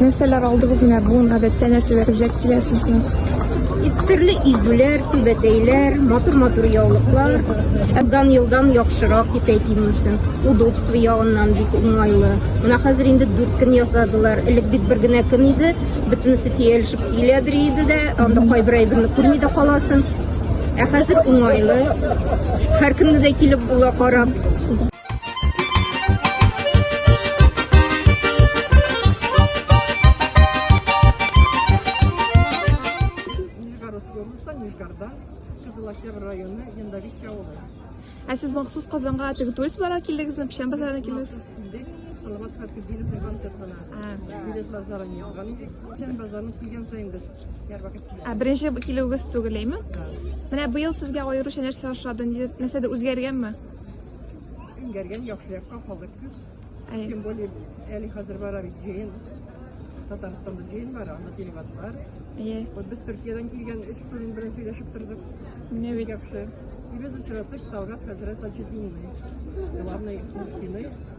Нәрсәләр алдыгыз менә бүген гадәттә нәрсәләр үзәк килә сезгә? Төрле изүләр, түбәтәйләр, матур-матур яулыклар. Елдан елдан яхшырак китә кимемсен. Удобство ягыннан бик уңайлы. Менә хәзер инде дүрт көн ясадылар. Элек бит бер генә көн иде. Бөтенесе тиялешеп килә бер иде дә, анда кайбер әйберне күрми дә каласың. Ә хәзер уңайлы. Һәр көнне дә килеп була карап. Ә сез махсус Казанга теге турист барга килдегезме? Печән базарына килдегез? Салават Хәбибовның концертына. Билетлар заранее алган идек. Печән базарына килгән саен без һәрвакыт киләбез. Ә беренче килүегез түгелме? Менә быел сезгә аеруча нәрсә ошады? Нәрсәдер үзгәргәнме? Иңгәргән яхшы якка халык күп. Әй. Тем более, әле хәзер бара бит җыен. Татарстанда җыен бар, анда телеват бар. Әй. Вот без Төркиядән килгән өч студент белән сөйләшеп тордык. Менә Бик бит. яхшы. И без очратык Талгат хәзрәт Таҗетдинны. Главный мөфтины.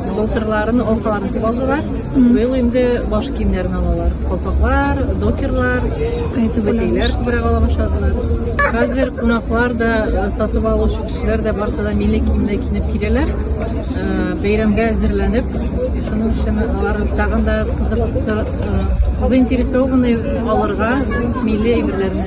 Былтырларын аркаларын тотып алдылар. Быел инде баш киемнәрен алалар. Колпаклар, докерлар, түбәтәйләр күбрәк ала башладылар. Хәзер кунаклар да, э, сатып алучы кешеләр дә барса да милли киемдә киенеп киләләр. Э, бәйрәмгә әзерләнеп, шуның өчен алар тагын да кызыксынып, э, заинтересованный алырга милли әйберләрне.